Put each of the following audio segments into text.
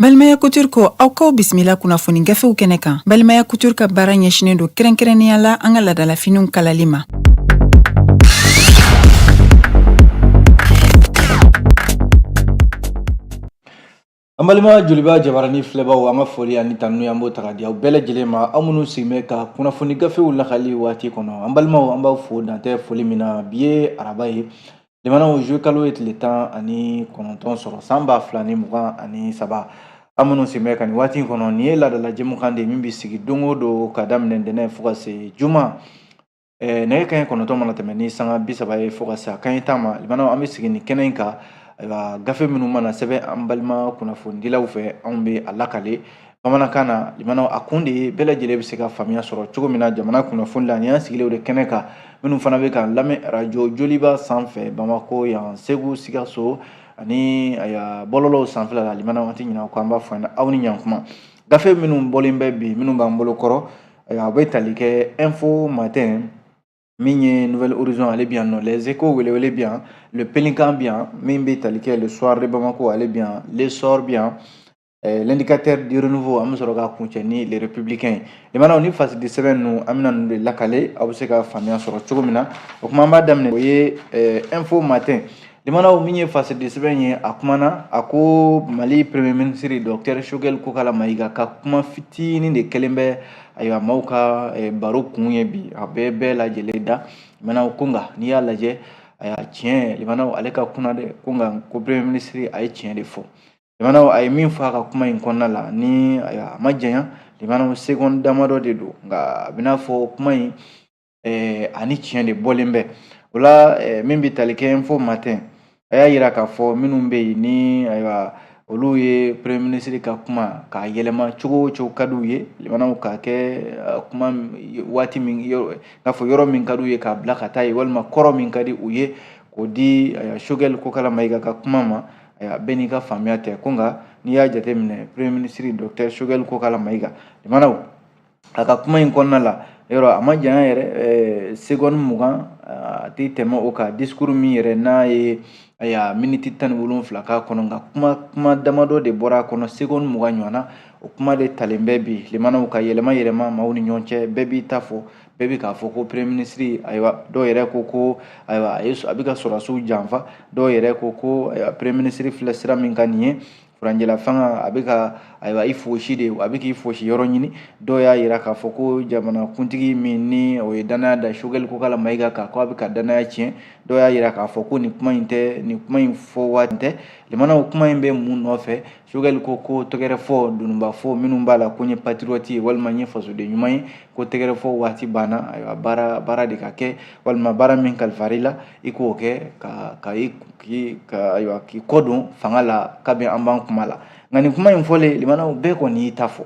Balimaya Couture ko aw kaw bisimila kunnafoni gafew kɛnɛ kan Balimaya Couture ka baara ɲɛsinen don kɛrɛnkɛrɛnnenya la an ka ladalafiniw kalali ma. an balima joliba jabarani filɛbaw an ka foli ani tanu an b'o ta ka di aw bɛɛ lajɛlen ma aw minnu sigin bɛ ka kunnafoni gafew lakali waati kɔnɔ an balimaw an b'aw fo dantɛ foli min na bi ye araba ye limanaw zuwe kalo ye tile tan ani kɔnɔntɔn sɔrɔ san ba fila ni mugan ani saba an minnu sigin bɛ ka nin waati in kɔnɔ nin ye laadala jɛmukan de ye min bɛ sigi don o don ka daminɛ ntɛnɛn fo ka se juma nɛgɛ kanɲɛ kɔnɔntɔn mana tɛmɛ ni sanga bi saba ye fo ka se a kanɲɛ tan ma limanaw an bɛ sigi nin kɛnɛ in kan ayiwa gafe minnu mana sɛbɛn an balima kunnafonidilaw fɛ anw bɛ a lakale bamanankan na limanaw a kun de ye bɛɛ lajɛlen bɛ se ka faamuya sɔrɔ cogo min na jamana kunnafoni la ni y'an sigilen de kɛnɛ kan minnu fana bɛ k'an lamɛn arajo joliba sanfɛ bamako yan segu sikaso ani bɔlɔlɔw sanfɛla la limanaw an tɛ ɲinɛ aw kɔ an b'a fɔ aw ni ɲankuma gafe minnu bɔlen bɛ bi minnu b'an bolo kɔrɔ Ayiwa a bɛ tali kɛ info matin min ye nouvel horizon ale bɛ yan nɔ les échos welewele bɛ yan le pélican bɛ yan min bɛ tali kɛ le soir de Bamako ale bɛ yan l'essor bɛ yan eh, l'indicateur du renouveau an bɛ sɔrɔ ka kuncɛ ni le républicain ye limanaw ni fasidi sɛbɛn ninnu an bɛna ninnu de lakale aw bɛ se ka faamuya sɔrɔ cogo min na o kuma an b'a daminɛ o ye eh, info matin Limanaw min ye fasidi sɛbɛn ye a kumana a ko mali premier ministre docteur sogɛli kokala mayiga ka kuma fitinin de kɛlen bɛ ayiwa maaw ka baro kun ye bi a bɛɛ bɛɛ lajɛ lajɛlen da limanaw ko nka n'i y'a lajɛ a y'a tiɲɛ limanaw ale ka kun dɛ ko nka ko premier ministre a ye tiɲɛ de fɔ limanaw a ye min fɔ a ka kuma in kɔnɔna la ni a ma janya limanaw segɔni damadɔ de don nka a bɛna fɔ kuma in ɛɛ ani tiɲɛ de bɔlen bɛ o la ɛɛ min bɛ tali kɛ info matin a y'a yira k'a fɔ minnu bɛ yen ni ayiwa olu ye premier ministre ka kuma k'a yɛlɛma cogo o cogo ka d'u ye limanaw k'a kɛ eh, kuma waati min yɔrɔ n'a fɔ yɔrɔ min ka d'u ye k'a bila ka taa yen walima kɔrɔ min ka di u ye k'o di eh, sogɛli kokala mayiga ka kuma ma eh, bɛɛ n'i ka faamuya tɛ ko nka n'i y'a jateminɛ premier ministre docteur sogɛli kokala mayiga limanaw a ka kuma in kɔnɔna la yɔrɔ a ma janya yɛrɛ segɔni mugan a tɛ tɛmɛ o kan disikuru min yɛrɛ n'a ye ayiwa miniti tan ni wolonfila k'a kɔnɔ nka kuma kuma damadɔ de bɔra a kɔnɔ segɔni mugan ɲɔgɔnna o kuma de talen bɛ bi limanaw ka yɛlɛma yɛlɛma maaw ni ɲɔgɔn cɛ bɛɛ b'i ta fɔ bɛɛ bɛ k'a fɔ ko premier minisiri ayiwa dɔw yɛrɛ ko ko ayiwa a ye a bɛ ka sɔrɔdasiw janfa dɔw yɛrɛ ko ko ayiwa premier minisiri filɛ sira min kan nin ye furancɛla fanga a bɛ ka ayiwa i fosi de a bɛ k'i fosi yɔrɔ ɲini dɔw y'a jira k'a fɔ ko jamana kuntigi min ni o ye danaya da sogɛli kokala mayiga kan ko a bɛ ka danaya tiɲɛ dɔw y'a jira k'a fɔ ko nin kuma in tɛ nin kuma in fɔ waati tɛ limanaw kuma in bɛ mun nɔfɛ sogɛli ko ko tɛgɛrɛ fɔ dununba fɔ minnu b'a la ko n ye patirɔti ye walima n ye fasoden ɲuman ye ko tɛgɛrɛ fɔ waati banna ayiwa baara baara de ka kɛ walima baara min kalifara i la i k'o kɛ ka ka i ka ayiwa k'i kɔ don fanga la kabini an b'an kuma la nka nin kuma in fɔlen limanaw bɛɛ kɔni y'i ta fɔ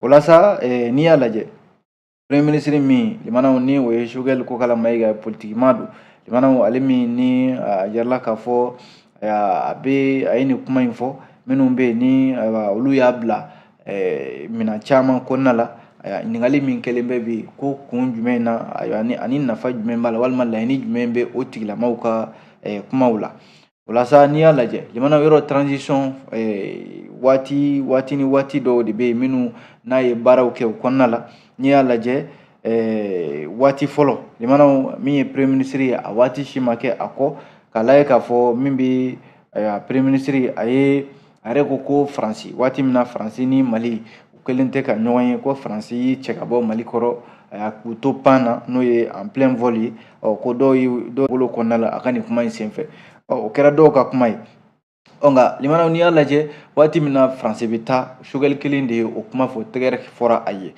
o la sa eh, n'i y'a lajɛ premier ministre min limanaw ni o ye sogɛli kokala mayiga politiki maa don limanaw ale min ni a jirala k'a fɔ a bɛ a ye nin kuma in fɔ minnu bɛ yen ni olu y'a bila eh, minɛn caman kɔnɔna la ayiwa ɲininkali min kɛlen bɛ bi ko kun jumɛn na ayiwa ni ani nafa jumɛn b'a la walima laɲini jumɛn bɛ o tigilamɔgɔw ka eh, kumaw la o la sa n'i y'a lajɛ limanaw yɔrɔ transition eh, waati waati ni waati dɔw de bɛ yen minnu n'a ye baaraw kɛ o kɔnɔna la n'i y'a lajɛ eh, waati fɔlɔ limanaw min ye premier ministre ye a waati si ma kɛ a kɔ k'a lajɛ k'a fɔ min bɛ eh, premier ministre a ye a yɛrɛ ko ko faransi waati min na faransi ni mali u kɛlen tɛ ka ɲɔgɔn ye ko faransi y'i cɛ ka bɔ mali kɔrɔ a y'a k'u to pan na n'o ye en plein vol ye ɔ ko dɔw ye dɔw bolo kɔnɔna la a ka nin kuma in senfɛ ɔ o kɛra dɔw ka kuma ye ɔ nka limanaw n'i y'a lajɛ waati min na faransi bɛ taa sogɛli kelen de ye o kuma fɔ tɛgɛrɛ fɔra a ye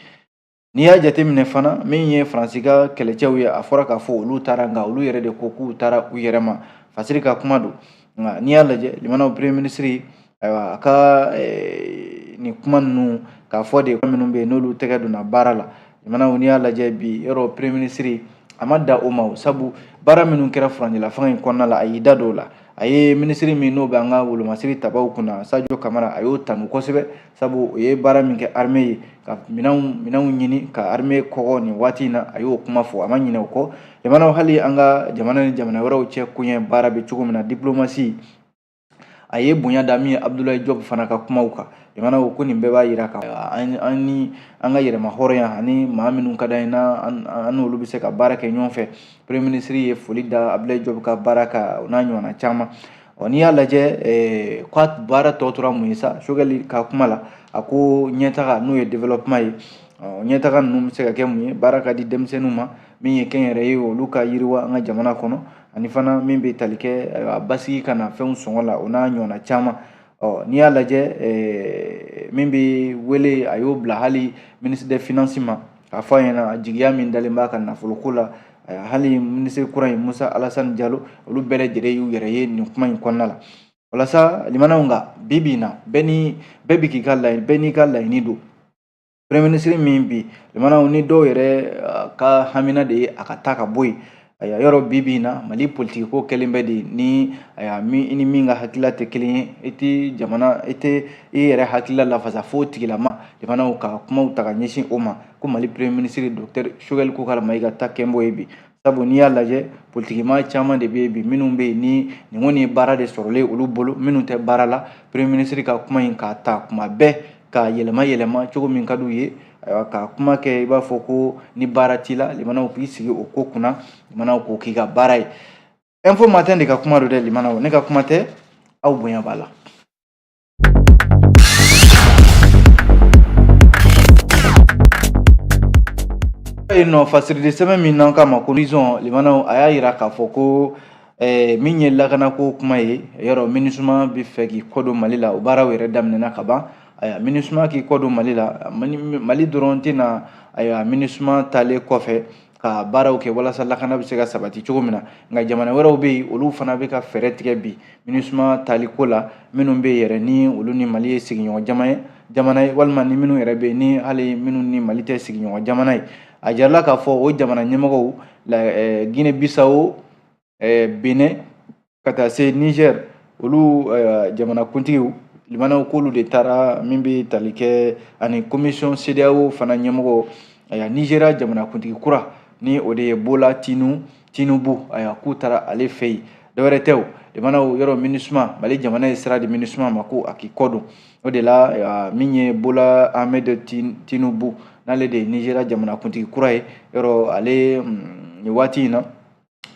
N'i y'a jateminɛ fana min ye Faransi ka kɛlɛcɛw ye a fɔra k'a fɔ olu taara nka olu yɛrɛ de ko k'u taara u yɛrɛ ma Faransi ka kuma don nka n'i y'a lajɛ limanaw premier ministre ayiwa a ka eh, nin kuma ninnu k'a fɔ de ko minnu bɛ yen n'olu tɛgɛ donna baara la limanaw n'i y'a lajɛ bi yɔrɔ premier ministre a ma dan o ma o sabu baara minnu kɛra furancɛla fanga in kɔnɔna la a y'i da don o la a ye minisiri min n'o bɛ an ka wolomasiri tabaw kunna sajo kamara a y'o tanu kosɛbɛ sabu o ye baara min kɛ armée ye ka minɛnw minɛnw ɲini ka armée kɔgɔ nin waati in na a y'o kuma fɔ a ma ɲinɛ o kɔ limanaw hali an ka jamana ni jamana wɛrɛw cɛ koɲɛ baara bɛ cogo min na diplomasi a ye bonya da min ye abudulayi jɔb fana ka kumaw kan limanaw ko ko nin bɛɛ b'a jira ka an ni an ka yɛrɛmahɔrɔnya ani maa minnu ka d'an ye n'an an n'olu bɛ se ka baara kɛ ɲɔgɔn fɛ premier ministre ye foli da abudulayi jɔb ka baara kan o n'a ɲɔgɔnna caman Ɔ n'i y'a lajɛ ko a baara tɔ tora mun ye sa sogɛli ka kuma la a ko ɲɛtaga n'o ye développement ye ɔ ɲɛtaga ninnu bɛ se ka kɛ mun ye baara ka di denmisɛnninw ma min ye kɛnyɛrɛye ye olu ka yiriwa an ka jamana kɔnɔ ani fana min bɛ tali kɛ a basigi ka na fɛnw sɔngɔ la o n'a ɲɔgɔnna caman ɔ n'i y'a lajɛ min bɛ wele a y'o bila hali ministre des finances ma K'a fɔ a ɲɛna jigiya min dalen b'a ka nafolo ko la hali minisiri kura in Musa Alasani Jalo olu bɛɛ lajɛlen y'u yɛrɛ ye nin kuma in kɔnɔna la walasa limanaw nka bi bi in na bɛɛ ni bɛɛ bi k'i ka laɲini bɛɛ n'i ka laɲini don premier minisiri min bi limanaw ni dɔw yɛrɛ ka hamina de ye a ka taa ka bɔ yen Aya yɔrɔ bi bi in na mali politiki ko kɛlen bɛ de ni aya min i ni min ka hakilila tɛ kelen ye i tɛ jamana i tɛ i yɛrɛ hakilila lafasa fo tigilama limanaw ka kumaw ta ka ɲɛsin o ma ko mali premier ministre docteur sogɛli kokala mayiga ta kɛlen b'o ye bi sabu n'i y'a lajɛ politikima caman de bɛ yen bi minnu bɛ yen ni nin kɔni ye baara de sɔrɔlen olu bolo minnu tɛ baara la premier ministre ka kuma in k'a ta kuma bɛɛ ka yɛlɛma yɛlɛma cogo min ka d'u ye ayiwa ka kuma kɛ i b'a fɔ ko ni baara t'i la limanaw k'i sigi o ko kunna limanaw k'o k'i ka baara ye info matin de ka kuma don dɛ limanaw ne ka kuma tɛ aw bonya b'a la yen nɔ fasiri de sɛbɛn min n'an k'a ma ko horizon limanaw a y'a yira k'a fɔ ko ɛɛ min ye lakanako kuma ye yɔrɔ minisuma bɛ fɛ k'i kɔdon mali la o baaraw yɛrɛ daminɛna ka ban ayiwa minisuma k'i kɔdon mali la mali dɔrɔn tɛ na ayiwa minisuma taalen kɔfɛ ka baaraw kɛ walasa lakana bɛ se ka sabati cogo min na nka jamana wɛrɛw bɛ yen olu fana bɛ ka fɛɛrɛ tigɛ bi minisuma taali ko la minnu bɛ yen yɛrɛ ni olu ni mali ye sigiɲɔgɔn jama ye jamana ye walima ni minnu yɛrɛ bɛ yen ni hali minnu ni mali tɛ sigiɲɔgɔn jamana ye a jirala k'a fɔ o jamana ɲɛmɔgɔw guinee bissau eh, benin ka taa se niger olu eh, jamanakuntigiw limanaw k'olu de taara min bɛ tali kɛ ani commission cedeao fana ɲɛmɔgɔ aya nigeria jamanakuntigi kura ni o de ye bola tinu tinubu aya k'u taara ale fɛ yen dɔwɛrɛ tɛ o limanaw yɔrɔ minisuma mali jamana ye sira di minisuma ma ko a k'i kɔ don o de la min ye bola ahmed tinubu n'ale de ye nizeriya jamanakuntigi kura ye yɔrɔ ale mm, nin waati in na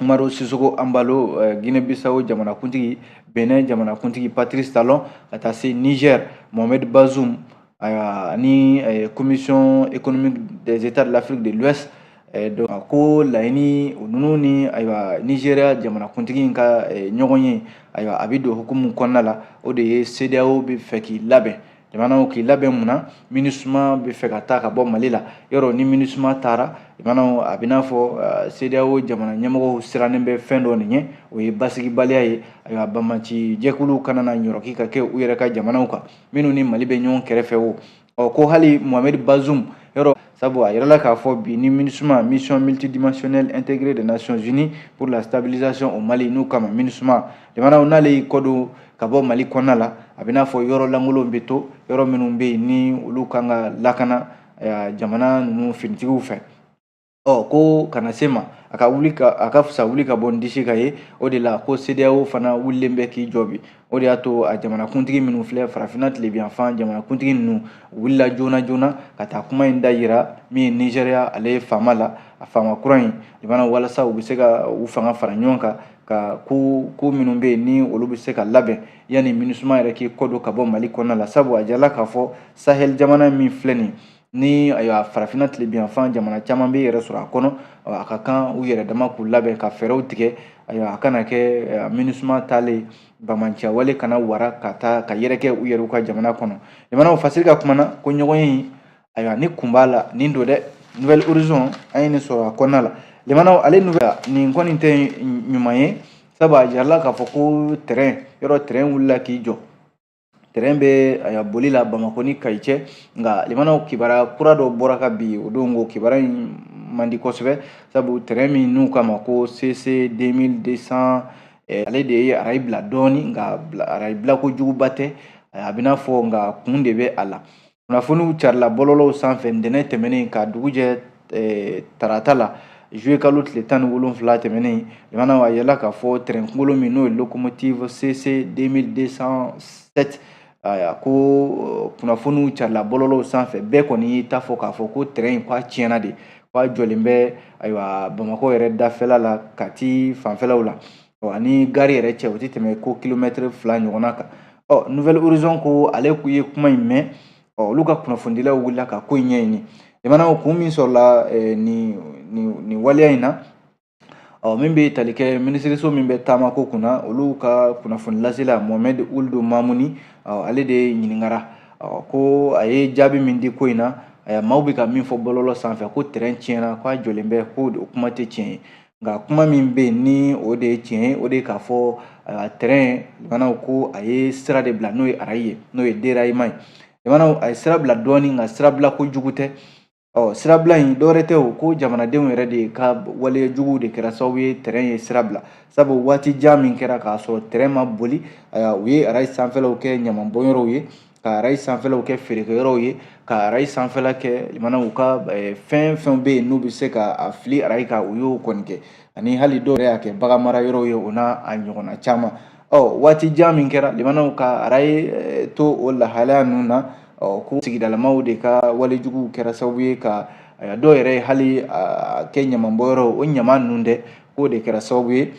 umaru sisoko anbalo eh, guinee bissau jamanakuntigi benin jamanakuntigi patrice talon ka taa se niger mohamed bazoum ayiwa ni eh, commission économique des états de l'afrique de l'ouest Eh, ko laɲini o ninnu ni ayiwa nizeriya jamanakuntigi in ka eh, ɲɔgɔn ye ayiwa a bɛ don hukumu kɔnɔna la o de ye sedeyaw bɛ fɛ k'i labɛn limanaw k'i labɛn mun na minisuma bɛ fɛ ka taa ka bɔ mali la yɔrɔ ni minisuma taara limanaw a bɛ n'a fɔ eh, sedeyaw jamana ɲɛmɔgɔw sirannen bɛ fɛn dɔ nin ɲɛ o ye basigibaliya ye ayiwa banbaanci jɛkuluw kana na ɲɔrɔki ka kɛ u yɛrɛ ka jamanaw kan minnu ni mali bɛ ɲɔgɔn kɛrɛfɛ o ɔ ko hali mohamɛdi bazum yɔrɔ sabu a yirala k'a fɔ bi ni minisuma mission multidimensionnelle intégrée des nations unies pour la stabilisation au mali n'u k'a ma minisuma jamanaw n'ale y'i kɔ don ka bɔ mali kɔnɔna la a bɛ n'a fɔ yɔrɔ lankolonw bɛ to yɔrɔ minnu bɛ yen ni olu kan ka lakana jamana ninnu finitigiw fɛ ɔ ko kana se ma a ka wuli ka a ka fisa wuli ka bɔ n disi kan ye o de la ko CEDEAO fana wulilen bɛ k'i jɔ bi o de y'a to a jamanakuntigi minnu filɛ farafinna tilebiyanfan jamanakuntigi ninnu wulila joona joona ka taa kuma in da yira min ye nizɛriya ale ye faama la a faama kura in jamana walasa u bɛ se ka u fanga fara ɲɔgɔn kan ka ko ko minnu bɛ yen ni olu bɛ se ka labɛn yanni minisuma yɛrɛ k'i kɔ don ka bɔ mali kɔnɔna la sabu a jirala k'a fɔ sahɛli jamana min filɛ nin ye ni ayiwa farafinna tilebiyanfan jamana caman bɛ yɛrɛ sɔrɔ a kɔnɔ a ka kan u yɛrɛ dama k'u labɛn ka fɛɛrɛw tigɛ ayiwa a kana kɛ minisuma taalen banbaanciya wale kana wara ka taa ka yɛrɛkɛ u yɛrɛw ka jamana kɔnɔ jamanaw fasiri ka kuma na ko ɲɔgɔnye ayiwa ni kun b'a la nin don dɛ nouvelle horizon an ye nin sɔrɔ a kɔnɔna la jamanaw ale nouvelle nin kɔni tɛ ɲuman ye sabu a jirala k'a fɔ ko tɛrɛn yɔrɔ tɛrɛn wulila k'i jɔ tɛrɛn bɛ a boli la bamakɔ ni kayi cɛ nka limanaw kibaruya kura dɔ bɔra ka bi o don ko kibaruya in man di kosɛbɛ sabu tɛrɛn min n'u k'a ma ko cc 2200 eh, ale de ye arayi bila dɔɔni nka arayi bila kojuguba tɛ a bɛ n'a fɔ nka kun de bɛ a la kunnafoniw carila bɔlɔlɔw sanfɛ ntɛnɛn tɛmɛnen ka dugu jɛ eh, tarata la juillet kalo tile tan ni wolonfila tɛmɛnen jamana a yirala k'a fɔ tɛrɛn kunkolo min n'o ye locomotive cc 2207 ayiwa ko eh, kunnafoniw carila bɔlɔlɔw sanfɛ bɛɛ kɔni y'i ta fɔ k'a fɔ ko tɛrɛn in k'a tiɲɛna de k'a jɔlen bɛ ayiwa bamakɔ yɛrɛ dafɛla la kati fanfɛlaw la ani gari yɛrɛ cɛ o tɛ tɛmɛ ko kilomɛtiri fila ɲɔgɔnna kan ɔ nouvelle horizon ko ale kun ye kuma in mɛn ɔ olu ka kunnafonidilaw wulila ka ko in ɲɛɲini jamanaw kun min sɔrɔla eh, nin nin nin waleya in na ɔ min bɛ tali kɛ minisiriso min bɛ taamako kunna olu ka kunnafonilasela mohamɛd ould mamuni ɔ ale de ɲininkara ɔ ko a ye jaabi min di ko in na maaw bɛ ka min fɔ bɔlɔlɔ sanfɛ ko tɛrɛn tiɲɛna k'a jɔlen bɛ ko o kuma tɛ tiɲɛ ye nka kuma min bɛ yen ni o de ye tiɲɛ ye o de ye k'a fɔ ayiwa tɛrɛn jamanaw ko a ye sira de bila n'o ye arayi ye n'o ye déraillement ye jamanaw a ye sira bila dɔɔni nka sirabila kojugu tɛ ɔ sirabila in dɔwɛrɛ tɛ o kɔ jamanadenw yɛrɛ de ka waleya juguw de kɛra sababu ye tɛrɛn ye sira bila sabu waati jan min kɛra k'a sɔrɔ tɛrɛn ma boli ayiwa u ye arayi sanfɛlaw kɛ ɲaman bɔnyɔrɔw ye ka arayi sanfɛlaw kɛ feerekɛyɔrɔw ye ka arayi sanfɛla kɛ limanaw ka fɛn fɛn bɛ yen n'u bɛ se ka a fili arayi kan u y'o kɔni kɛ ani hali dɔw yɛrɛ y'a kɛ bagan mara yɔrɔw ye o n'a a ɲɔgɔnna caman ɔ waati jan min kɛra limanaw ka arayi to o lahalaya ninnu na ɔ ko sigidalamaw de ka walejuguw kɛra sababu ye ka dɔw yɛrɛ hali kɛ ɲamanbɔnyɔrɔ o ɲama ninnu dɛ k'o de kɛra sababu ye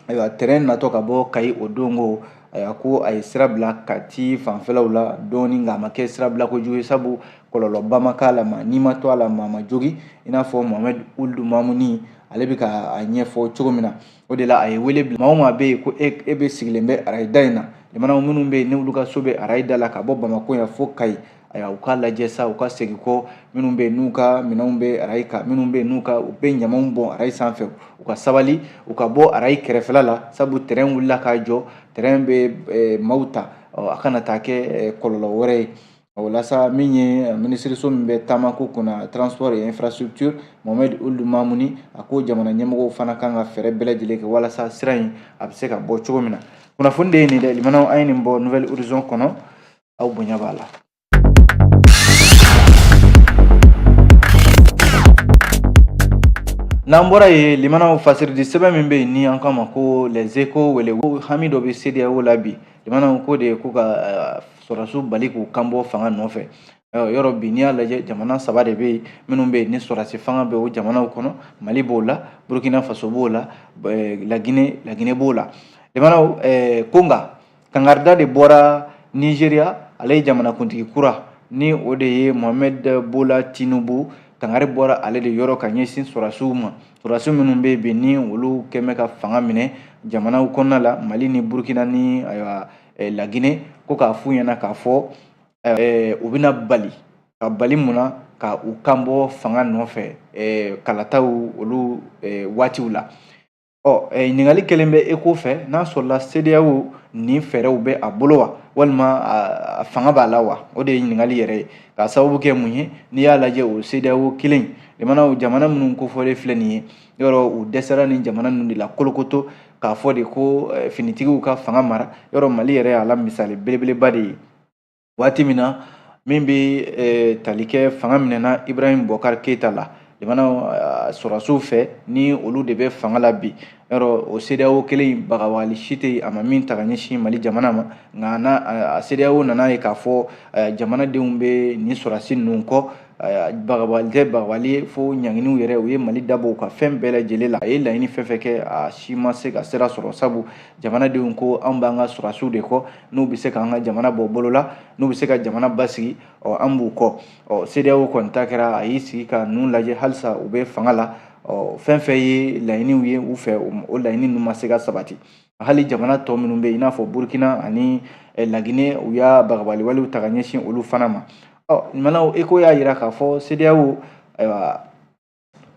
ayiwa tɛrɛn natɔ ka bɔ kayi o don ko ayiwa ko a ye sira bila kati fanfɛlaw la dɔɔni nka a ma kɛ sira bila kojugu ye sabu kɔlɔlɔba ma k'a la maa ni ma to a la maa ma jogin i n'a fɔ mohamed ould mamouni ale bɛ ka a ɲɛfɔ cogo min na o de la a ye wele bila maa o maa bɛ yen ko e e bɛ sigilen bɛ arayida in na limanaw minnu bɛ yen n'olu ka so bɛ arayida la ka bɔ bamakɔ yan fo kayi Ayiwa u k'a lajɛ sa u ka segin kɔ minnu bɛ yen n'u ka minɛnw bɛ arayi kan minnu bɛ yen n'u ka u bɛ ɲamaw bɔn arayi sanfɛ u ka sabali u ka bɔ arayi kɛrɛfɛla la sabu tɛrɛn wulila k'a jɔ tɛrɛn bɛ maaw ta a kana taa kɛ kɔlɔlɔ wɛrɛ ye o la sa min ye minisiriso min bɛ taamako kunna transport et infrastructure Mohamed Ould Mamouni a ko jamana ɲɛmɔgɔw fana kan ka fɛɛrɛ bɛɛ lajɛlen kɛ walasa sira in a bɛ se ka bɔ cogo min na kunnafoni de ye nin dɛ limanaw an ye nin bɔ Nouvelle Horizon kɔnɔ aw bonya b'a la n'an bɔra yen limanaw fasiridi sɛbɛn min bɛ yen ni an k'a ma ko les échos wele ko hami dɔ bɛ CEDEAO la bi limanaw ko de ye ko ka eh, sɔrɔdasiw bali k'u kanbɔ fanga nɔfɛ eh, yɔrɔ bi n'i y'a lajɛ jamana saba de bɛ yen minnu bɛ yen ni sɔrɔdasi fanga bɛ o jamanaw kɔnɔ mali b'o la burkina faso b'o la eh, lagine lagine b'o la limanaw ko nka kankarida de bɔra nigeria ale ye jamanakuntigi kura ni o de ye mohamed bola tinubu kangari bɔra ale de yɔrɔ ka ɲɛsin sɔrasiw ma sɔrasi minnu bɛ yen bi ni olu kɛmɛ ka fanga minɛ jamanaw kɔnɔna la mali ni burkina ni ayiwa eh, lagine ko k'a f'u ɲɛna k'a fɔ eh, u bɛna bali ka bali mun na ka u kanbɔ fanga nɔfɛ eh, kalataw olu waatiw la ɔ ɲininkali kelen bɛ échos fɛ n'a sɔrɔla sedeyawo nin fɛɛrɛw bɛ a bolo wa walima a fanga b'a la wa o de ye ɲininkali yɛrɛ ye k'a sababu kɛ mun ye n'i y'a lajɛ o sedeyawo kelen limanaw jamana minnu kofɔlen filɛ nin ye yɔrɔ u dɛsɛra nin jamana ninnu de la kolokoto k'a fɔ de ko finitigiw ka fanga mara yɔrɔ mali yɛrɛ y'a la misali belebeleba de ye waati min na min bɛ eh, tali kɛ fanga minɛna ibrahim boubacar keita la limanaw eh, sɔrɔdasiw fɛ ni olu de bɛ fanga la bi yɔrɔ o sedeyawo kelen in bagabali si tɛ yen a ma min ta ka ɲɛsin mali jamana ma nka n'a a sedeyawo nan'a ye k'a fɔ eh, jamanadenw bɛ nin sɔrɔdasi ninnu kɔ bagabali tɛ bagabali ye fo ɲanginiw yɛrɛ u ye mali dabɔ u ka fɛn bɛɛ lajɛlen la a ye laɲini fɛn fɛn kɛ a si ma se ka sira sɔrɔ sabu jamanadenw ko anw b'an ka sɔrɔdasiw de kɔ n'u bɛ se k'an ka jamana bɔ bolo la n'u bɛ se ka jamana basigi ɔ an b'u kɔ ɔ CEDEAO kɔni ta kɛra a y'i sigi ka ninnu lajɛ halisa u bɛ fanga la ɔ fɛn fɛn ye laɲiniw ye u fɛ o laɲini ninnu ma se ka sabati hali jamana tɔ minnu bɛ yen i n'a fɔ Burkina ani eh, Lagine u y'a bagabali walew ta ka ɲɛsin olu fana ma ɔ limanaw ECHO y'a jira k'a fɔ CEDEAO ayiwa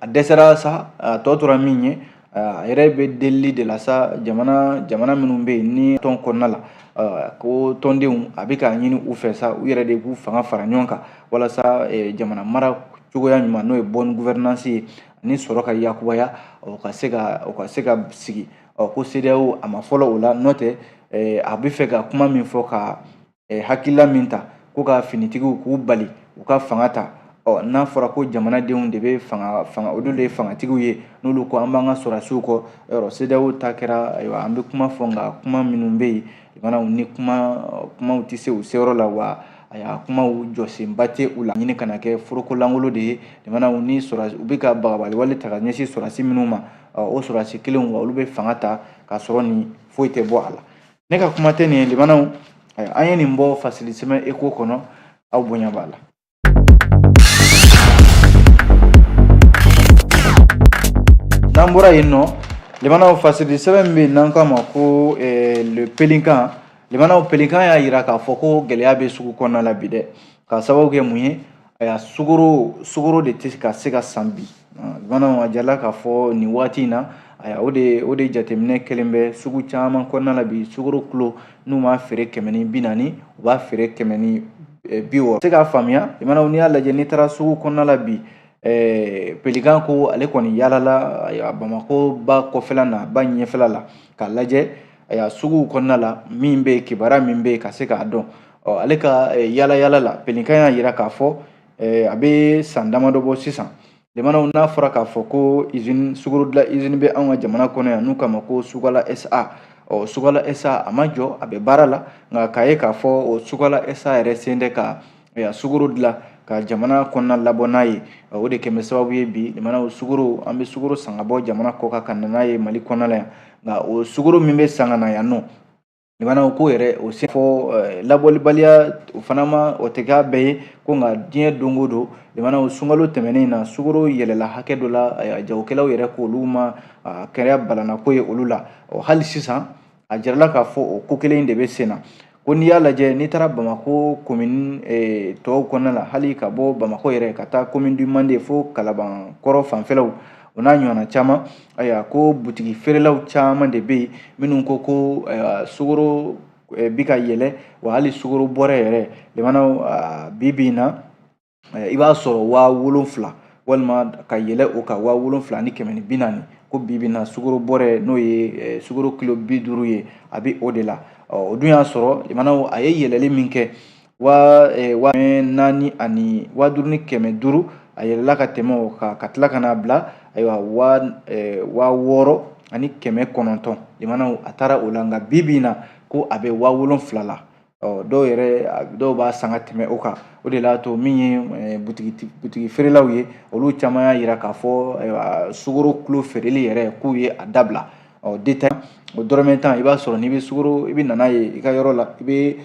a dɛsɛra sa a tɔ tora min ye a yɛrɛ bɛ delili de la sa jamana jamana minnu bɛ yen ni tɔn kɔnɔna la ko tɔndenw a bɛ k'a ɲini u fɛ sa u yɛrɛ de k'u fanga fara ɲɔgɔn kan walasa jamana mara cogoya ɲuman n'o ye bonne gouvernance ye ani sɔrɔ ka yakubaya o ka se ka o ka se ka sigi ɔ ko CEDEAO a ma fɔlɔ o la n'o tɛ a bɛ fɛ ka kuma min fɔ ka hakilila min ta ko ka finitigiw k'u bali u ka fanga ta ɔ n'a fɔra ko jamanadenw de bɛ fanga fanga olu de ye fangatigiw ye n'olu ko an b'an ka sɔrɔdasiw kɔ yɔrɔ CEDEAO ta kɛra ayiwa an bɛ kuma fɔ nka kuma minnu bɛ yen limanaw nin kuma kumaw tɛ se u seyɔrɔ la wa ayiwa kumaw jɔsenba tɛ u la ɲini kana kɛ foroko lankolon de ye limanaw ni sɔrɔdasi u bɛ ka bagabali wale ta ka ɲɛsin sɔrɔdasi minnu ma o sɔrɔdasi kelenw wa olu bɛ fanga ta k'a sɔrɔ nin foyi tɛ bɔ a la ne ka kuma tɛ nin ye limanaw an ye nin bɔ fasili sɛbɛn ECHO kɔnɔ aw bonya b'a la n'an bɔra yen nɔ limanaw fasili sɛbɛn min bɛ yen n'an k'a ma ko eh, Le Pélican limanaw Pélican y'a jira k'a fɔ ko gɛlɛya bɛ sugu kɔnɔna la bi dɛ k'a sababu kɛ mun ye Ayiwa sukaro sukaro de tɛ ka se ka san bi limanaw a jirala k'a fɔ nin waati in na ayiwa o de o de jateminɛ kelen bɛ sugu caman kɔnɔna na bi sukaro kilo n'u m'a feere kɛmɛ ni bi naani u b'a feere kɛmɛ ni bi wɔɔrɔ se k'a faamuya limanaw n'i y'a lajɛ n'i taara sugu kɔnɔna la bi Pélican ko ale kɔni yaalala bamakɔ ba kɔfɛla na ba ɲɛfɛla la k'a lajɛ suguw kɔnɔna la min bɛ kibaruya min bɛ yen ka se k'a dɔn Ɔ ale ka yaalayaala la Pélican y'a jira k'a fɔ a bɛ san damadɔ bɔ sisan limanaw n'a fɔra k'a fɔ ko i sukaro dilan usine bɛ an ka jamana kɔnɔ yan n'u k'a ma ko Sukala SA ɔ Sukala SA a ma jɔ a bɛ baara la nka k'a ye k'a fɔ o Sukala SA yɛrɛ se tɛ ka sukaro dilan ka jamana kɔnɔna labɔ n'a ye o de kɛlen bɛ sababu ye bi limanaw sukaro an bɛ sukaro san ka bɔ jamana kɔkan ka n'a ye Mali kɔnɔna yan nka o sukaro min bɛ san ka na yan nɔ Limanaw ko yɛrɛ o se fɔ labɔlibaliya o fana ma o tɛ k'a bɛɛ ye ko nka diɲɛ don o don limanaw sunkalo tɛmɛnen in na sukaro yɛlɛla hakɛ dɔ la jagokɛlaw yɛrɛ ko olu ma kɛra balanako ye olu la ɔ hali sisan a jirala k'a fɔ o ko kelen de bɛ sen na ko n'i y'a lajɛ n'i taara bamakɔ commune tɔw kɔnɔna la hali ka bɔ bamakɔ yɛrɛ ka taa commune du Mande fo kalabankɔrɔ fanfɛlaw o n'a ɲɔgɔnna caman ayiwa ko butigi feerelaw caman de bɛ yen minnu ko ko sukoro bi ka yɛlɛ wa hali sukoro bɔrɛ yɛrɛ lamɛnnaw bi bi in na i b'a sɔrɔ waa wolonfila walima ka yɛlɛ o kan waa wolonfila ni kɛmɛ ni bi naani ko bi bi na sukoro bɔrɛ n'o ye sukoro kilo bi duuru ye a bɛ o de la o dun y'a sɔrɔ lamɛnnaw a ye yɛlɛli min kɛ waa e, waa naani ani waa duuru ni kɛmɛ duuru a yɛlɛla ka tɛmɛ o kan ka tila ka n'a bila ayiwa waa e, waa wɔɔrɔ ani kɛmɛ kɔnɔntɔn lamɛnnaw a taara o la nka bi bi in na ko a bɛ waa wolonfila la ɔ dɔw yɛrɛ dɔw b'a san ka tɛmɛ o kan o de l'a to min ye e, butigi butigi feerelaw ye olu caman y'a jira k'a fɔ ayiwa sukoro kilo feereli yɛrɛ k'u ye a dabila ɔ détail o dɔrɔmɛ tan i b'a sɔrɔ n'i bɛ sukoro i bɛ na n'a ye i ka yɔrɔ la i bɛ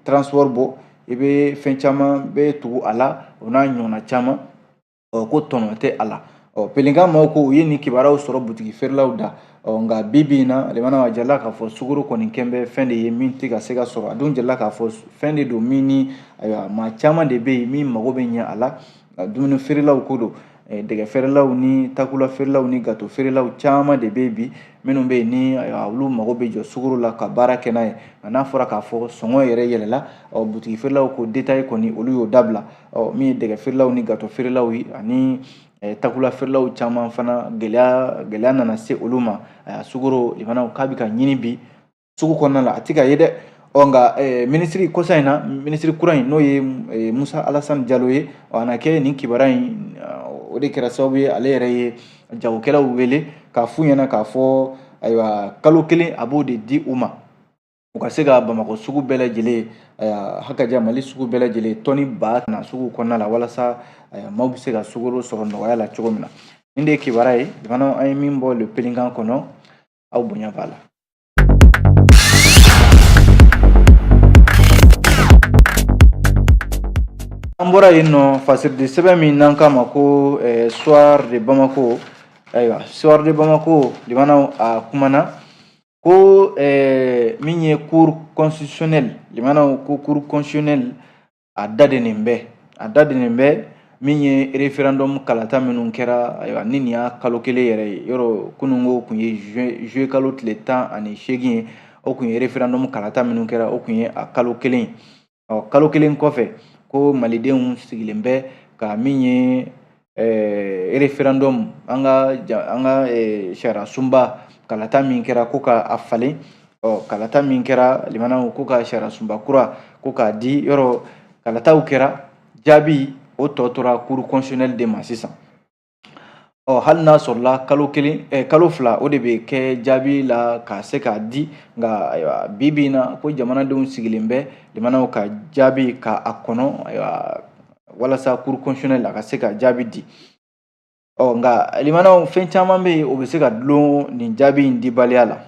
transport bɔ i bɛ fɛn caman bɛ tugu a la o n'a ɲɔgɔnna caman ɔ ko tɔnɔ tɛ a la ɔ pélican maaw ko u ye nin kibaruyaw sɔrɔ butigi feerelaw da ɔ nka bi bi in na lamɛnnaw a jirala k'a fɔ sukoro kɔni kɛn bɛ fɛn de ye min tɛ ka se ka sɔrɔ a dun jirala k'a fɔ fɛn de don min ni ayiwa maa caman de bɛ yen min mago bɛ ɲɛ a la Nka dumuni feerelaw ko don dɛgɛ feerelaw ni takula feerelaw ni gato feerelaw caman de bɛ bi minnu bɛ yen ni olu mago bɛ jɔ sugaro la ka baara kɛ n'a ye nka n'a fɔra k'a fɔ sɔngɔ yɛrɛ yɛlɛla ɔ butigi feerelaw ko détail kɔni olu y'o dabila ɔ min ye dɛgɛ feerelaw ni gato feerelaw ye ani takula feerelaw caman fana gɛlɛya gɛlɛya nana se olu ma sugoro lamɛnnaw k'a bɛ ka ɲini bi sugu kɔnɔna la a tɛ ka ye dɛ ɔ nka eh, minisiri kɔsa in na minisiri kura in n'o ye eh, musa alasani jalo ye ɔ a na kɛ nin kibara in uh, o de kɛra sababu ye ale yɛrɛ ye jagokɛlaw wele k'a f'u ɲɛna k'a fɔ ayiwa kalo kelen a b'o de di u ma u ka se ka bamakɔ sugu bɛɛ lajɛlen uh, hakaja mali sugu bɛɛ lajɛlen tɔni ba na sugu kɔnɔna la walasa uh, maaw bɛ se ka sugoro sɔrɔ nɔgɔya la cogo min na nin de ye kibara ye lamɛnnaw an ye min bɔ le pélican kɔnɔ aw bonya b'a la an bɔra yen nɔ fasiridi sɛbɛn min n'an k'a ma ko eh, soir de bamako ayiwa soir de bamako lamɛnnaw a kumana ko eh, min ye cour constitutionnelle lamɛnnaw ko cour constitutionnelle a dadenen bɛ a dadenen bɛ min ye referendum kalata minnu kɛra ayiwa ni nin y'a kalo kelen yɛrɛ ye yɔrɔ kununko kun ye juillet kalo tile tan ani seegin ye o kun ye referendum kalata minnu kɛra o kun ye a kalo kelen ye ɔ kalo kelen kɔfɛ ko malidenw sigilen bɛ ka min ye referendum an ka an ka sariyasunba kalata min kɛra ko ka a falen ɔ kalata min kɛra limanaw ko ka sariyasunba kura ko k'a di yɔrɔ kalataw kɛra jaabi o tɔ tora cour constitutionnelle de ma sisan ɔ hali n'a sɔrɔla kalo kelen ɛ eh, kalo fila o de bɛ kɛ jaabi la ka se k'a di nka ayiwa bi bi in na ko jamanadenw sigilen bɛ limanaw ka jaabi ka a kɔnɔ ayiwa walasa cour constitutionnelle a ka se ka jaabi di ɔ nka limanaw fɛn caman bɛ yen o bɛ se ka dulon nin jaabi in dibaliya la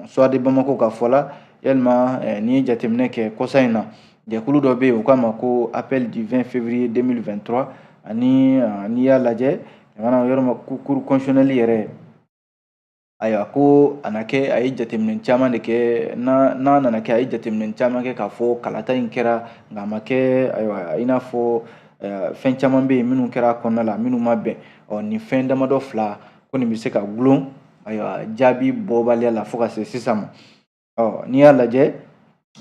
suwadi bamako ka fɔ la yalima eh, n'i ye jateminɛ kɛ kɔsa in na jɛkulu dɔ bɛ yen u k'a ma ko appel du 20 février 2023 ani eh, n'i y'a lajɛ limanaw yɔrɔ ma cour constitutionnelle yɛrɛ Ayiwa ko a na kɛ a ye jateminɛ caman de kɛ n'a nana kɛ a ye jateminɛ caman kɛ k'a fɔ kalata in kɛra nka a ma kɛ ayiwa i n'a fɔ fɛn caman bɛ yen minnu kɛra a kɔnɔna la minnu ma bɛn ɔ nin fɛn damadɔ fila ko nin bɛ se ka gulon ayiwa jaabi bɔbaliya la fo ka se sisan ma ɔ n'i y'a lajɛ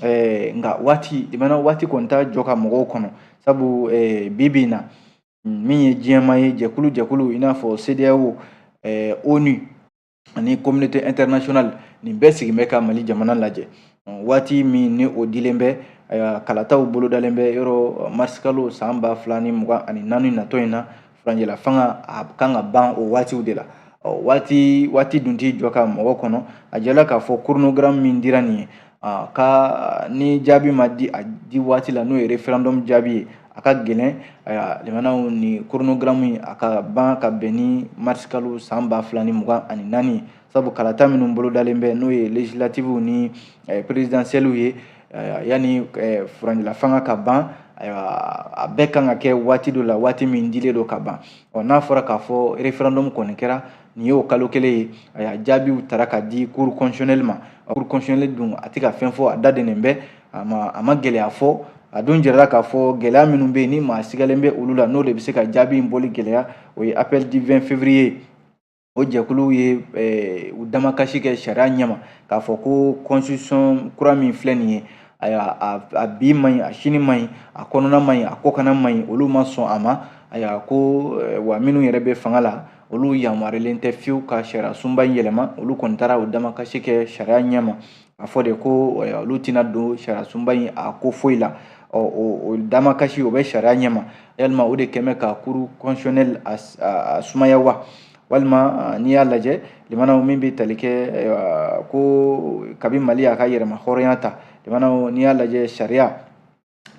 ɛɛ nka waati limanaw waati kɔni t'a jɔ ka mɔgɔw kɔnɔ sabu ɛɛ bi bi in na min ye diɲɛma ye jɛkulu jɛkulu i n'a fɔ CEDEAO ɛɛ ONU ani communauté internationale nin bɛɛ sigin bɛ ka Mali jamana lajɛ waati min ni o dilen bɛ kalataw bolodalen bɛ yɔrɔ marisikalo san ba fila ni mugan ani naani natɔ in na furancɛla fanga a kan ka ban o waatiw de la ɔ waati waati dun t'i jɔ ka mɔgɔ kɔnɔ a jɛla k'a fɔ chronogramme min dira nin ye a ka ni jaabi ma di a di waati la n'o ye referendum jaabi ye a ka gɛlɛn limanaw nin chronogramme in a ka ban ka bɛn ni marisi kalo san ba fila ni mugan ani naani sabu kalata minnu bolodalen bɛ n'o ye legislatives ni eh, présidentielles ye yanni furancɛla fanga ka ban ayiwa a bɛɛ kan ka kɛ waati dɔ la waati min dilen don ka ban ɔ n'a fɔra k'a fɔ referendum kɔni kɛra nin y'o kalo kelen ye ayiwa jaabiw taara ka di cour constitutionnelle ma cour constitutionnelle dun a tɛ ka fɛn fɔ a da dennen bɛ a ma a ma gɛlɛya fɔ a dun jirala k'a fɔ gɛlɛya minnu bɛ yen ni maa sigalen bɛ olu la n'o de bɛ se ka jaabi in bɔli gɛlɛya o ye appel du 20 février o jɛkulu ye eh, u damakasi kɛ sariya ɲɛma k'a fɔ ko constitution kura min filɛ nin ye ayiwa a bi man ɲi a sini man ɲi a kɔnɔna man ɲi a kɔkana man ɲi olu ma sɔn a ma ayiwa ko eh, wa minnu yɛrɛ bɛ fanga la olu yamaruyalen tɛ fiyewu ka sariya sunba in yɛlɛma olu kɔni taara u damakasi kɛ sariya ɲɛma a fɔ de ko eh, olu tɛna don sariyasunba in a ko foyi la ɔ o damakasi o bɛ sariya ɲɛma yalima o de kɛn bɛ ka cour constitutionnelle a sumaya wa walima n'i y'a lajɛ limanaw min bɛ tali kɛ ko kabi mali y'a ka yɛrɛma hɔrɔnya ta limanaw n'i y'a lajɛ sariya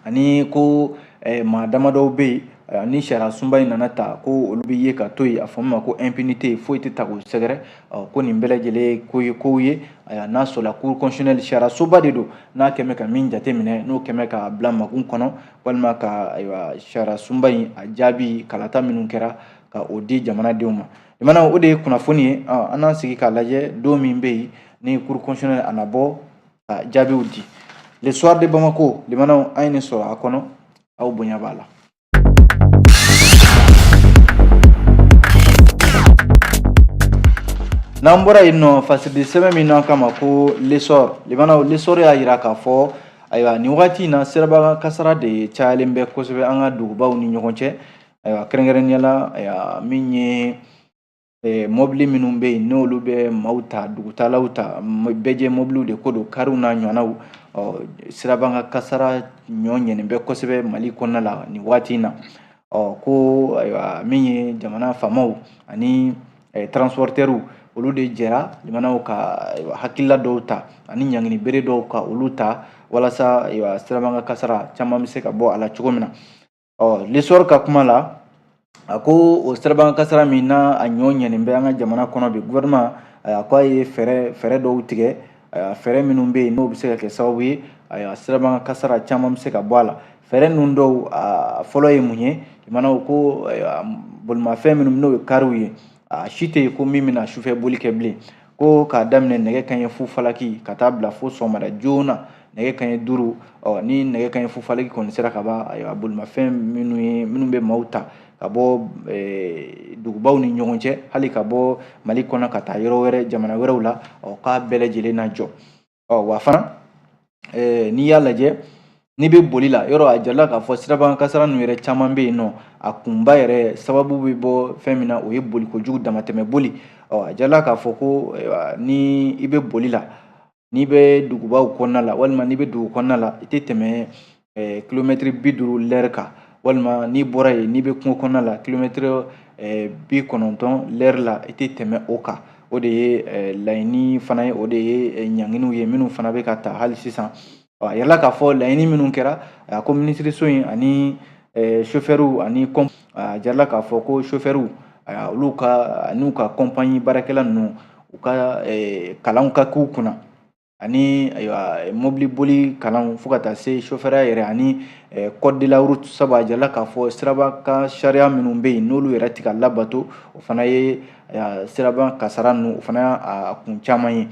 ani ko eh, maa damadɔw bɛ yen eh, ni sariya sunba in nana ta ko olu bɛ ye ka to yen a fɔ min ma ko impunité foyi tɛ ta k'u sɛgɛrɛ eh, ko nin bɛɛ lajɛlen ye ko ye kow ye ayiwa n'a sɔrɔla cour constitutionnelle sariya soba de don n'a kɛmɛ ka min jateminɛ n'o kɛmɛ ka bila makun kɔnɔ walima ka ayiwa sariya sunba in a jaabi kalata minnu kɛra ka o di jamanadenw ma limanaw o de ye kunnafoni ye an n'an sigi k'a lajɛ don min bɛ yen ni cour constitutionnelle a na bɔ ka jaabiw di le soir de bamako limanaw an ye nin sɔrɔ a kɔnɔ aw bonya b'a la n'an bɔra yen nɔ fasidi sɛbɛn min n'an k'a ma ko l'essor limanaw l'essor y'a yira k'a fɔ ayiwa nin wagati in na sirabakan kasara de cayalen bɛ kosɛbɛ an ka dugubaw ni ɲɔgɔn cɛ ayiwa kɛrɛnkɛrɛnnenya la ayiwa min ye eh, mɔbili minnu bɛ yen n'olu bɛ maaw ta dugutalaw ta bɛɛjɛ mɔbiliw de ko don kariw n'a ɲɔgɔnnaw ɔ sirabakan kasara ɲɔ ɲɛnen bɛ kosɛbɛ mali kɔnɔna la nin waati in na ɔ ko ayiwa min ye jamana faamaw ani eh, transportɛriw olu de jɛra limanaw ka hakilila dɔw ta ani ɲangini bere dɔw ka olu ta walasa sirabakan kasara caman bɛ se ka bɔ a la cogo min na ɔ l'essor ka kuma la a ko o sirabakan kasara min n'a a ɲɔ ɲɛnen bɛ an ka jamana kɔnɔ bi gouvernement a ko a ye fɛɛrɛ fɛɛrɛ dɔw tigɛ fɛɛrɛ minnu bɛ yen n'o bɛ se ka kɛ sababu ye a sirabakan kasara caman bɛ se ka bɔ a la fɛɛrɛ ninnu dɔw a fɔlɔ ye mun ye limanaw ko bolimafɛn minnu n'o ye kariw ye a si tɛ yen ko min bɛna sufɛ boli kɛ bilen ko k'a daminɛ nɛgɛ kanɲɛ fu falaki ka taa bila fo sɔgɔmada joona nɛgɛ kanɲɛ duuru ɔ ni nɛgɛ kanɲɛ fu falaki kɔni sera ka ban ayiwa bolimafɛn minnu ye minnu bɛ maaw ta ka bɔ eh, dugubaw ni ɲɔgɔn cɛ hali ka bɔ mali kɔnɔ ka taa yɔrɔ wɛrɛ jamana wɛrɛw la ɔ k'a bɛɛ lajɛlen na jɔ Ɔ wa fana n'i y'a lajɛ n'i bɛ boli la yɔrɔ a jirala k'a fɔ sirabakan kasara ninnu yɛrɛ caman bɛ yen nɔ a kunba yɛrɛ sababu bɛ bɔ fɛn min na o ye boli kojugu damatɛmɛ boli ɔ a jirala k'a fɔ ko ni i bɛ boli la n'i bɛ dugubaw kɔnɔna la walima n'i bɛ dugu kɔnɔna la i tɛ tɛmɛ eh, kilomɛtiri bi duuru lɛri kan walima n'i bɔra yen n'i bɛ kungo kɔnɔna la kilomɛtiri eh, bi kɔnɔntɔn lɛri la i tɛ tɛmɛ o kan o de ye eh, laɲini fana ye o de ye ɲanginiw ye minnu fana bɛ ka ta hali sisan a yirala k'a fɔ laɲini minnu kɛra a ko minisiriso in ani sofɛriw ani kɔn a yirala k'a fɔ ko sofɛriw olu ka n'u ka kɔnpanyi baarakɛla ninnu u ka kalanw ka k'u kunna ani ayiwa mobili boli kalan fo ka taa se sofɛrɛya yɛrɛ ani code de la route sabu a jirala k'a fɔ siraba kan sariya minnu bɛ yen n'olu yɛrɛ tɛ ka labato o fana ye siraba kasara ninnu o fana y'a kun caman ye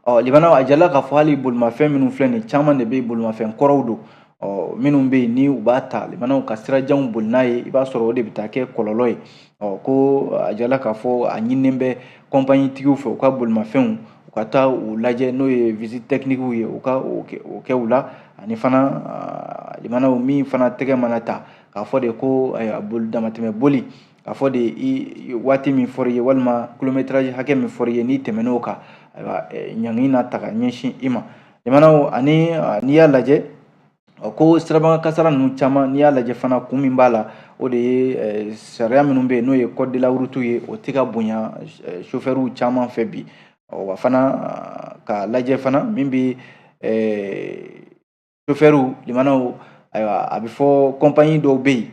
ɔ limanaw a jirala k'a fɔ hali bolimafɛn minnu filɛ nin caman de bɛ bolimafɛn kɔrɔw don Ɔ minnu bɛ yen ni u b'a ta limanaw ka sirajanw boli n'a ye i b'a sɔrɔ o de bɛ taa kɛ kɔlɔlɔ ye ɔ ko a jirala k'a fɔ a ɲininen bɛ kɔnpanyi tigiw fɛ u ka bolimafɛnw u ka taa u lajɛ n'o ye visite technique ye u ka o kɛ u la ani fana limanaw min fana tɛgɛ mana ta k'a fɔ de ko damatɛmɛ boli K'a fɔ de i waati min fɔr'i ye walima kilomɛtaraji hakɛ min fɔr'i ye n'i tɛmɛn'o kan ayiwa ɲangini na ta ka ɲɛsin i ma limanaw ani n'i y'a lajɛ ko sirabakan kasara ninnu caman n'i y'a lajɛ fana kun min b'a la o de ye sariya minnu bɛ yen n'o ye code de la route ye o tɛ ka bonya sofɛriw caman fɛ bi wa fana k'a lajɛ fana min bɛ sofɛriw limanaw ayiwa a bɛ fɔ kɔnpanyi dɔw bɛ yen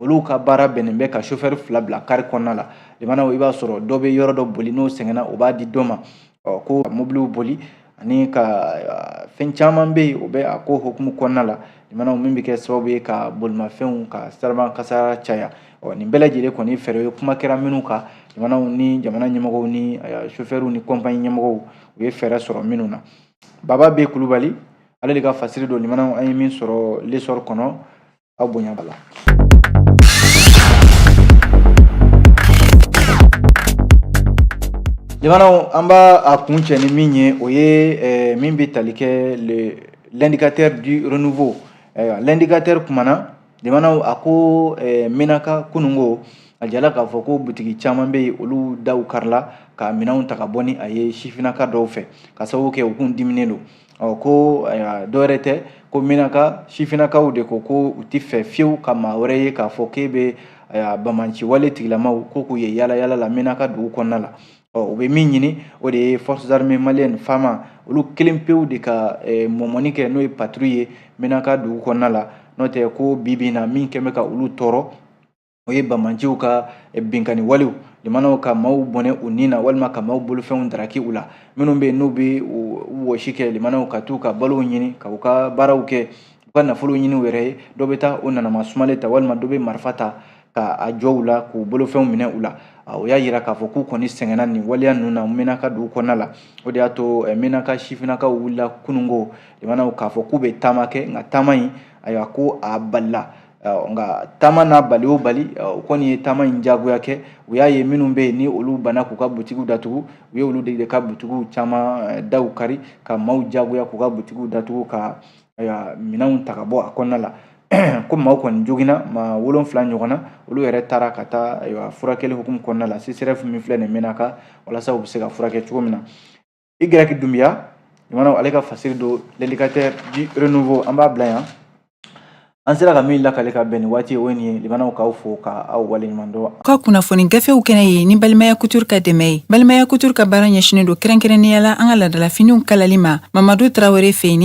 olu ka baara bɛnnen bɛ ka sofɛri fila bila kari kɔnɔna la limanaw i b'a sɔrɔ dɔ bɛ yɔrɔ dɔ boli n'o sɛgɛnna o b'a di dɔ ma ko mobiliw boli ani ka fɛn caman bɛ yen o bɛ a ko hukumu kɔnɔna la limanaw min bɛ kɛ sababu ye ka bolimafɛnw ka siraba kasara caya ɔ nin bɛɛ lajɛlen kɔni fɛɛrɛ ye kuma kɛra minnu kan limanaw ni jamana ɲɛmɔgɔw ni sofɛriw ni kɔnpanyi ɲɛmɔgɔw u ye fɛɛrɛ sɔrɔ minnu na baba b kulubali ale de ka fasiri don limanaw an ye min sɔrɔ l'essor kɔnɔ aw bonya b'a la limanaw an b'a a kuncɛ ni min ye o ye eh, min bɛ tali kɛ l'indicateur du renouveau ayiwa l'indicateur kumana limanaw a ko eh, menaka kununko a jirala k'a fɔ ko butigi caman bɛ yen olu daw karila ka minɛnw ta ka bɔ ni a ye sifinnaka dɔw fɛ ka sababu kɛ u kun diminen don ɔ ko ayiwa dɔwɛrɛ tɛ ko menaka sifinnakaw de ko ko u tɛ fɛ fiyewu ka maa wɛrɛ ye k'a fɔ k'e bɛ ayiwa banbaanci wale tigilamaw ko k'u ye yaala yaala la menaka dugu kɔnɔna la ɔ u bɛ min ɲini o de ye forces armées maliennes fama olu kelen pewu de ka eh, mɔmɔni kɛ n'o ye patrouille ye menaka dugu kɔnɔna la n'o tɛ ko bi bi in na min kɛlen bɛ ka olu tɔɔrɔ o ye banbaanciw ka eh, binkani walew limanaw ka maaw bɔnɛ u ni na walima ka maaw bolofɛnw daraki u la minnu bɛ yen n'u bɛ wɔsi kɛ limanaw ka t'u ka balow ɲini ka u ka baaraw kɛ u ka nafolo ɲini u yɛrɛ ye dɔ bɛ taa o nanama sumalen ta walima dɔ bɛ marifa ta ka a jɔ u la k'u bolofɛnw minɛ u la o y'a yira k'a fɔ k'u kɔni sɛgɛnna nin waleya ninnu na menaka dugu kɔnɔna la o de y'a to eh, menaka sifinnakaw wulila kununko limanaw k'a fɔ k'u bɛ taama kɛ nka taama in ayiwa ko a balila nka taama n'a bali o bali u kɔni ye taama in jagoya kɛ u y'a ye minnu bɛ yen ni olu banna k'u ka butigiw datugu u ye olu de ka butigiw caman daw kari ka maaw jagoya k'u ka butigiw datugu ka minɛnw ta ka bɔ a kɔnɔna la ko maaw kɔni joginna maa wolonfila ɲɔgɔn na olu yɛrɛ taara ka taa ayiwa furakɛli hukumu kɔnɔna la CSREF min filɛ nin ye Menaka walasa u bɛ se ka furakɛ cogo min na i gɛrɛki dunbiya ɲumanw ale ka fasiri don l'indicateur du renouveau an b'a bila yan an sera ka min lakale ka bɛn ni waati ye o ye nin ye limanaw k'aw fo ka aw waleɲuman dɔn ka kunnafoni gafew kɛnɛ ye ni balimaya couture ka dɛmɛ ye balimaya couture ka baara ɲɛsinnen don kɛrɛnkɛrɛnnenya la an ka ladala finiw kalali ma mamadu tarawele fɛ yen